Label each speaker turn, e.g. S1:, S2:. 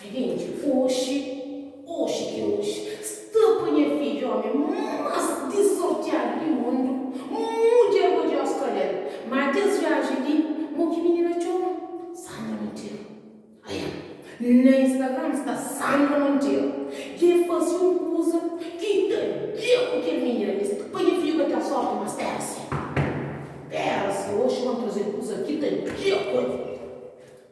S1: Videnti, Oxi, oxi ki é oxi, sta pa nha fidju ómi más disortiadu di mundu, mudjer bo dja skodje-l, má kes viajen li, mo ki minina txoma, Sandra Monteiro. Aia, na Instagram sta Sandra Monteiro, ki é fase un kuza ki ta dja ku kel minina li, sta pa nha fidju ka ten sórti, má spera-se, spera-se, oxi ban traze-l kuza ki ta dja ku-l.